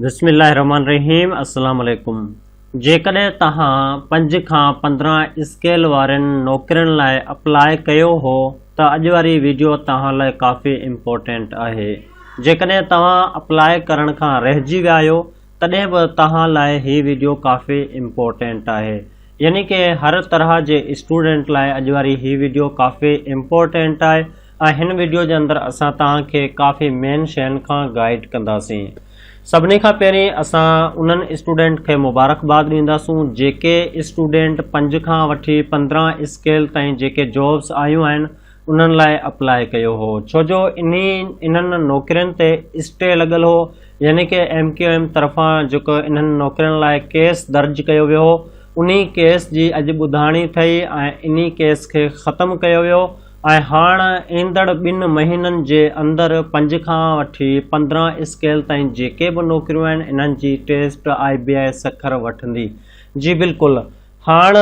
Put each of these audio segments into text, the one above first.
بسم الله الرحمن الرحيم السلام عليڪم جيڪڏهن توهان پنج کان پندرهن اسڪيل وارين نوڪرين لاء اپلاء ڪيو هو ته اڄ واري ويڊيو توهان لاء ڪافي امپورٽينٽ آهي جيڪڏهن توهان اپلاء ڪرڻ کان رهجي ويا آهيو تڏهن به توهان لاء هي ويڊيو ڪافي امپورٽينٽ آهي يعني ڪي هر طرح جي اسٽوڊنٽ لاء اڄ واري هي ويڊيو ڪافي امپورٽينٽ آهي ۽ هن ويڊيو جي اندر اسان توهان کي ڪافي مين شين کان گائيڊ ڪنداسين سڀني کان پهرين اسان انهن اسٽوڊنٽ کي مبارڪباد ڏينداسون جيڪي اسٽوڊنٽ پنج کان وٺي پندرهن اسڪيل تائين جيڪي جابس آيون آهن انهن لاء اپلاء ڪيو هو ڇو جو انهن نوڪرين تي اسٽي لڳل هو يعني ڪه ايم ڪيو ايم طرفان جيڪو انهن نوڪرين لاء ڪيس درج ڪيو ويو هو انهي ڪيس جي اڄ ٻڌاڻي ٿئي ۽ انهي ڪيس کي ختم ڪيو ويو ۽ هاڻ ايندڙ ٻن مهينن جي اندر پنج کان وٺي پندرهن اسڪيل تائين جيڪي به نوڪريون آهن انهن جي ٽيسٽ آئي بي آئي سکر وٺندي جي بلڪل هاڻ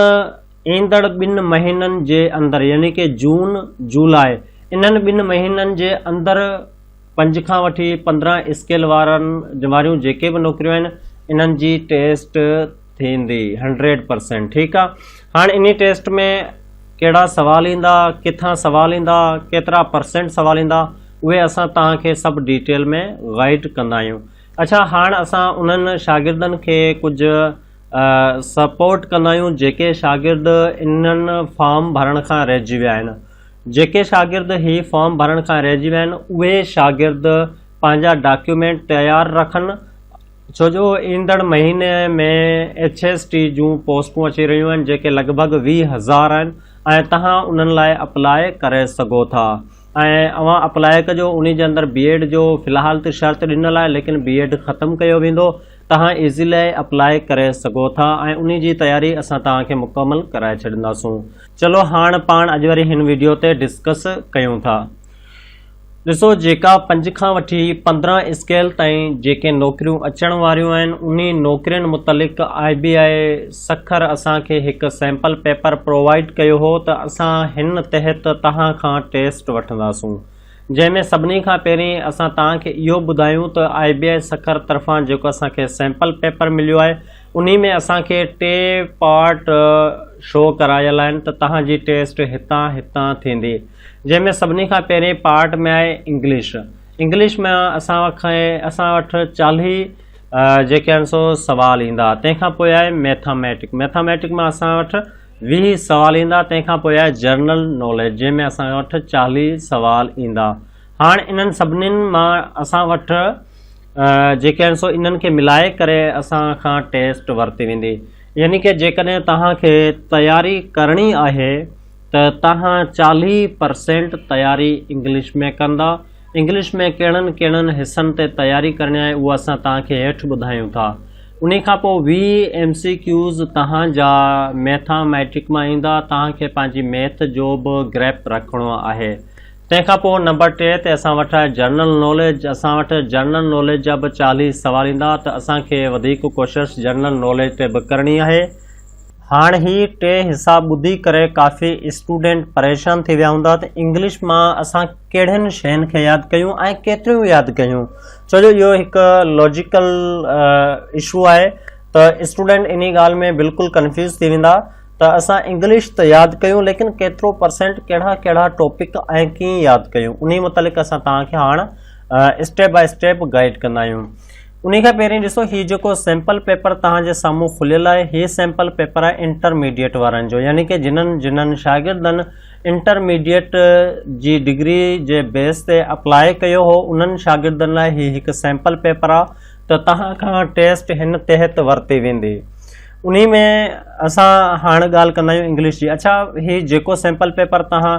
ايندڙ ٻن مهينن جي اندر يعني ڪه جون، جولاء انهن ٻن مهينن جي اندر پنج کان وٺي پندرهن اسڪيل وارن واريون جيڪي به نوڪريون آهن انهن جي ٽيسٽ ٿيندي هنڊريڊ پرسينٽ ٺيڪ آ هاڻ انهي ٽيسٽ ۾ ڪهڙا سوال ايندا ڪٿان سوال ايندا ڪيترا پرسينٽ سوال ايندا اهي اسان توهان کي سڀ ڊيٽيل ۾ گائيڊ ڪندا آهيون اڇا هاڻ اسان انهن شاگردن کي ڪجهه سپورٽ ڪندا آهيون جيڪي شاگرد انهن فارم ڀرڻ کان رهجي ويا آهن جيڪي شاگرد هي فارم ڀرڻ کان رهجي ويا آهن اهي شاگرد پنهنجا ڊاڪيومينٽ تيار رکن ڇو جو ايندڙ مهيني ۾ ايڇ ايس ٽي جون پوسٽون اچي رهيون آهن جيڪي لڳ ڀڳ ويهه هزار آهن ۽ تهان انهن لاء اپلاء ڪري سگهو ٿا ۽ اوهان اپلاء ڪجو ان جي اندر بي ايڊ جو في الحال ته شرط ڏنل آهي ليڪن بي ايڊ ختم ڪيو ويندو توهان ايزي لاء اپلاء ڪري سگهو ٿا ۽ انهي جي تياري اسان توهان کي مڪمل ڪرائي ڇڏينداسون. چلو هاڻ پاڻ اڄ واري هن ويڊيو تي ڊسڪس ڪيون ٿا. ڏسو جيڪا پنج کان وٺي پندرهن اسڪيل تائين جيڪي نوڪريون اچڻ واريون آهن انهي نوڪرين متعلق آء بي آء سکر اسان کي هڪ سيمپل پيپر پرووائيڊ ڪيو هو ته اسان هن تحت توهان کان ٽيسٽ وٺنداسون. جنهن ۾ سڀني کان پهرين اسان توهان کي اهو ٻڌايون ته آء بي آء سکر طرفان جيڪو اسان کي سيمپل پيپر مليو آهي انهي ۾ اسان کي ٽي پارٽ شو ڪرايل آهن ته توهان جي ٽيسٽ هتان هتان ٿيندي جنهن ۾ سڀني کان پهرين پارٽ ۾ آهي انگلش انگلش ۾ اسان کي اسان وٽ چاليهه جيڪي آهن سو سوال ايندا تنهن کان پوء آهي ميٿاميٽڪ ميٿاميٽڪ مان اسان وٽ ويهه سوال ايندا تنهن کان پوء آهي جرنل ناليج جنهن ۾ اسان وٽ چاليهه سوال ايندا هاڻ انهن سڀنين مان اسان وٽ جيڪي آهن سو انهن کي ملائي ڪري اسان کان ٽيسٽ ورتي ويندي يعني ڪه جيڪڏهن توهان کي تياري ڪرڻي آهي ته توهان چاليهه پرسينٽ تياري انگلش ۾ ڪندا انگلش ۾ ڪهڙن ڪهڙن حصن تي تياري ڪرڻي آهي اهو اسان توهان کي هيٺ ٻڌايون ٿا. انهي کان پوء ويهه ايم سي ڪيوز توهان جا ميٿا ميٽرڪ مان ايندا. توهان کي پنهنجي ميٿ جو به گريپ رکڻو آهي. تنهن کان پوء نمبر ٽي تي اسان وٽ آهي جنرل ناليج. اسان وٽ جنرل ناليج جا به چاليهه سوال ايندا ته اسان کي وڌيڪ ڪوشش جنرل ناليج تي به ڪرڻي آهي. هاڻ هي ٽي حصا ٻڌي ڪري ڪافي اسٽوڊنٽ پريشان ٿي ويا هوندا ته انگلش مان اسان ڪهڙين شين کي ياد ڪيون ۽ ڪيتريون ياد ڪيون ڇو جو اهو هڪ لاجيڪل اشو آهي ته اسٽوڊنٽ انهي ڳالهه ۾ بلڪل ڪنفيوز ٿي ويندا ته اسان انگلش ته ياد ڪيون ليڪن ڪيترو پرسنٽ ڪهڙا ڪهڙا ٽاپڪ ۽ ڪيئن ياد ڪيون انهي متعلق اسان توهان کي هاڻ اسٽيپ باء اسٽيپ گائيڊ ڪندا آهيون انهي کان پهرين ڏسو هي جيڪو سيمپل پيپر توهان جي سامهون کليل آهي هي سيمپل پيپر آهي انٽرميڊيٽ وارن جو يعني ڪه جنن جنن شاگردن انٽرميڊيٽ جي ڊگري جي بيس تي اپلاء ڪيو هو انهن شاگردن لاء هي هڪ سيمپل پيپر آهي ته توهان کان ٽيسٽ هن تحت ورتي ويندي انهي ۾ اسان هاڻ ڳالهه ڪندا آهيون انگلش جي اڇا هي جيڪو سيمپل پيپر توهان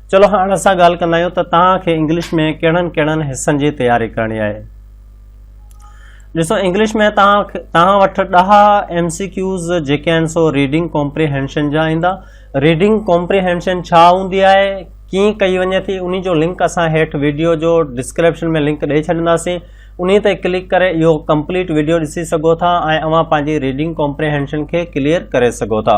چلو هاڻ اسان ڳالهه ڪندا آهيون ته توهان کي انگلش ۾ ڪهڙن ڪهڙن حصن جي تياري ڪرڻي آهي ڏسو انگلش ۾ توهان توهان وٽ ڏهه ايم سي ڪيوز جيڪي آهن سو ريڊنگ ڪمپريهينشن جا ايندا ريڊنگ ڪمپريهينشن ڇا هوندي آهي ڪيئن ڪئي وڃي ٿي ان جو لنڪ اسان هيٺ ويڊيو جو ڊسڪرپشن ۾ لنڪ ڏيئي ڇڏنداسين ان تي ڪلڪ ڪري اهو ڪمپليٽ ويڊيو ڏسي سگهو ٿا ۽ اوهان پنهنجي ريڊنگ ڪمپريهينشن کي ڪليئر ڪري سگهو ٿا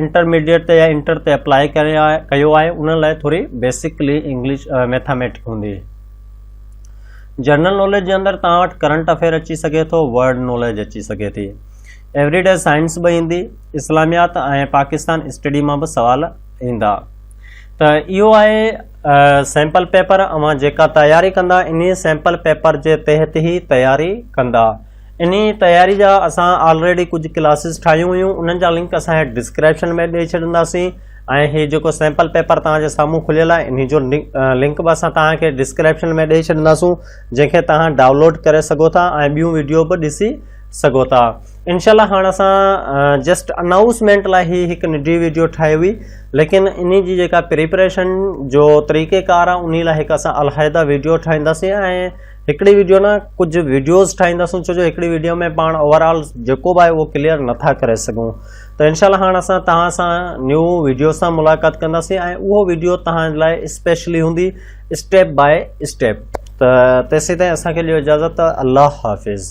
انٽرميڊيٽ تي يا انٽر تي اپلاء ڪري ڪيو آهي انهن لاء ٿوري بيسڪلي انگلش ميٿاميٽڪ هوندي جنرل ناليج جي اندر تان وٽ ڪرنٽ افيئر اچي سگهي ٿو ورلڊ ناليج اچي سگهي ٿي ايوري ڊي سائنس به ايندي اسلاميات ۽ پاڪستان اسٽڊي مان به سوال ايندا ته اهو آهي سيمپل پيپر اوهان جيڪا تياري ڪندا انهي سيمپل پيپر جي تحت هي تياري ڪندا انهي تياري جا اسان آلريڊي ڪجهه ڪلاسز ٺاهيون هيون انهن جا لنڪ اسان هيٺ ڊسڪرپشن ۾ ڏئي ڇڏينداسين ۽ هي جيڪو سيمپل پيپر توهان جي سامهون کليل آهي انهي جو لنڪ به اسان توهان کي ڊسڪرپشن ۾ ڏئي ڇڏينداسون جنهن کي توهان ڊائونلوڊ ڪري سگهو ٿا ۽ ٻيون ويڊيو به ڏسي سگهو ٿا انشاء الله هاڻ اسان جسٽ اناؤسمينٽ لاء هي هڪ ننڍي ويڊيو ٺاهي هئي ليڪن انهي جي جيڪا پريپريشن جو طريقه ڪار آهي انهي لاء هڪ اسان علحده ويڊيو ٺاهينداسين ۽ هڪڙي ويڊيو نه ڪجهه ويڊيوز ٺاهينداسون ڇو جو هڪڙي ويڊيو ۾ پاڻ اوور آل جيڪو به آهي اهو ڪليئر نٿا ڪري سگهون ته انشاء الله هاڻ اسان توهان سان نيو ويڊيو سان ملاقات ڪنداسين ۽ اهو ويڊيو توهان لاء اسپيشلي هوندي اسٽيپ باء اسٽيپ ته تيسين تائين اسان کي ڏيو اجازت الله حافظ